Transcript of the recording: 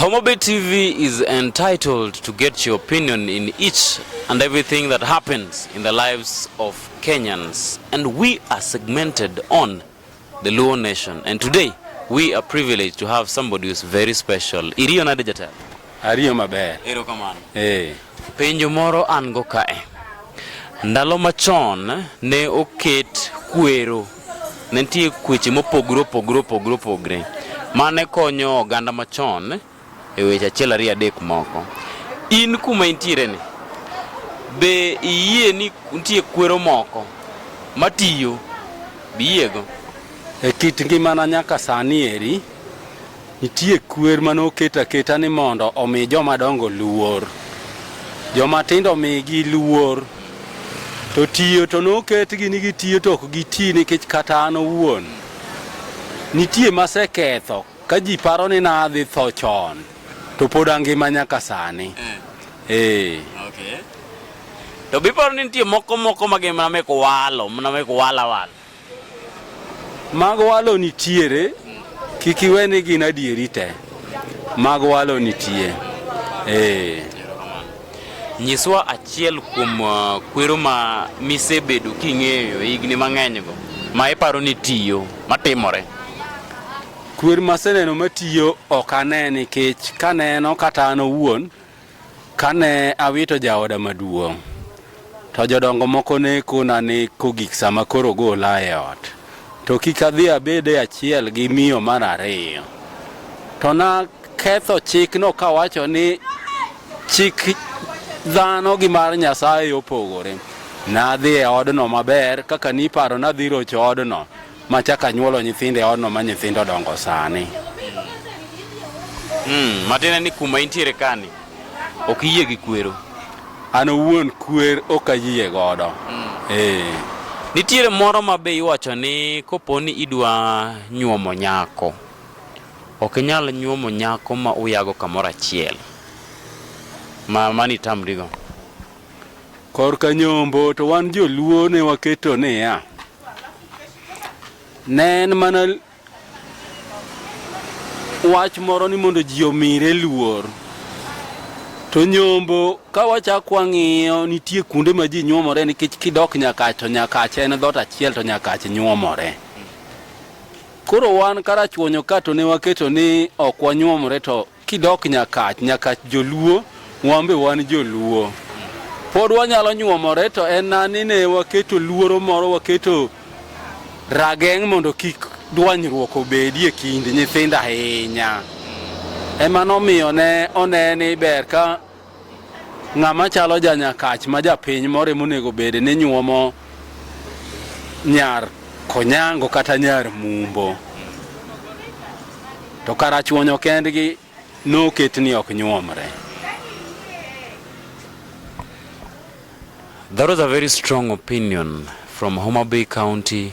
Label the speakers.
Speaker 1: Homabay TV is entitled to get your opinion in each and everything that happens in the lives of Kenyans. And we are segmented on the Luo Nation. And today, we are privileged to have somebody who's very special. Iriyo nade jatelo? Ariyo maber.
Speaker 2: Ero kamano. Eh.
Speaker 1: Penjo
Speaker 2: moro an go
Speaker 1: kae. Ndalo machon ne oket kwero Ne nitie kweche mopogre opogre opogre opogre mane konyo oganda machon e weche achiel ariyo adek moko. In kuma intiere ni, be iyie ni nitie kwero moko matiyo? Be iyiego? E
Speaker 2: kit ngimana nyaka sani eri, Nitie kwer ma noket aketa ni mondo omi joma dongo luor, joma tindo omigi luor. To tiyo to noketgi ni gitiyo to ok giti nikech kata an owuon nitie maseketho ka ji paro ni nadhi tho chon to pod angima nyaka sani. Eh. eh.
Speaker 1: Okay. To biparo ni nitie moko moko ma gimna mek walo, mna mek wala wala.
Speaker 2: Mag walo nitiere, kik iwe ni gin adieri te. Mag walo nitie. Eh.
Speaker 1: Nyiswa achiel kuom uh, kwero ma misebedo king'eyo higni mang'enygo ma iparo ni tiyo matimore.
Speaker 2: Kwer maseneno matiyo ok ane nikech kaneno kata an owuon Kane awito jaoda maduong', to jodongo moko ne kona ni kogik sama koro gola e ot, to kik adhi abed e achiel gi miyo mar ariyo. To naketho chikno kawacho ni chik dhano gi mar Nyasaye opogore. Nadhi e odno maber kaka niparo nadhi rocho odno, ma chaka nyuolo nyithinde odno ma nyithindo dongo sani. Mm,
Speaker 1: matiende ni kuma intiere kani ok iyie gi kwero. An owuon
Speaker 2: kwer ok ayie godo. Mm. Eh.
Speaker 1: Nitiere moro ma be iwacho ni kopo ni idwa nyuomo nyako ok inyal nyuomo nyako ma uyago kamoro achiel ma mani tamrigo.
Speaker 2: Korka nyombo to wan joluo ne waketo niya Ne en mana wach moro ni mondo ji omire luor. To nyombo ka wachak wang'iyo nitie kuonde ma ji nyuomore nikech kidok Nyakach to Nyakach en dhot achiel to Nyakach nyuomore. Koro wan karachuonyo ka to ne waketo ni ok wanyuomore to Kidok Nyakach, Nyakach Joluo, wan be wan Joluo. Pod wanyalo nyuomore to en na ni ne waketo luoro moro, waketo rageng' mondo kik dwanyruok obedi e kind nyithindo ahinya. Ema nomiyo ne one ni ber ka Ng'ama chalo janyakach ma japiny more monego bede ni nyuomo nyar konyango kata nyar mumbo to karachuonyo kendgi noket ni ok nyuomre.
Speaker 1: That was a very strong opinion from Homabay County,